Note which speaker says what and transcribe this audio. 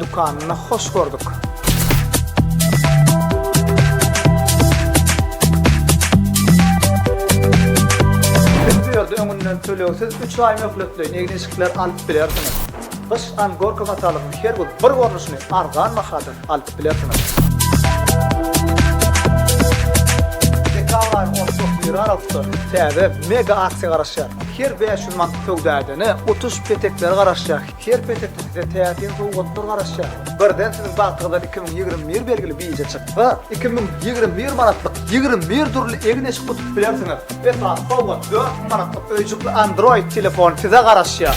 Speaker 1: Dükanyna hoş gördük. Ýerde öňünden tölegsiz 3 aý möhletleýin egin-eşikler alyp bilersiňiz. Gyş an gorka matalygyň her gün bir görnüşini arzan bahadan alyp bilersiňiz. Dekabrýyň 31-i aralykda täze mega aksiýa garaşýar. Her 500 manat söwda edene 30 petekler garaşýar. Her petekde size täsin sowgatlar garaşýar. Birden siziň bagtyňyzdan iki müň ýigrimi bir belgili bije çyksa, iki müň ýigrimi bir manatlyk ýigrimi bir dürli egin-eşik utup bilersiňiz. Esasy sowgat, dört müň manatlyk öýjükli Android telefon size garaşýar.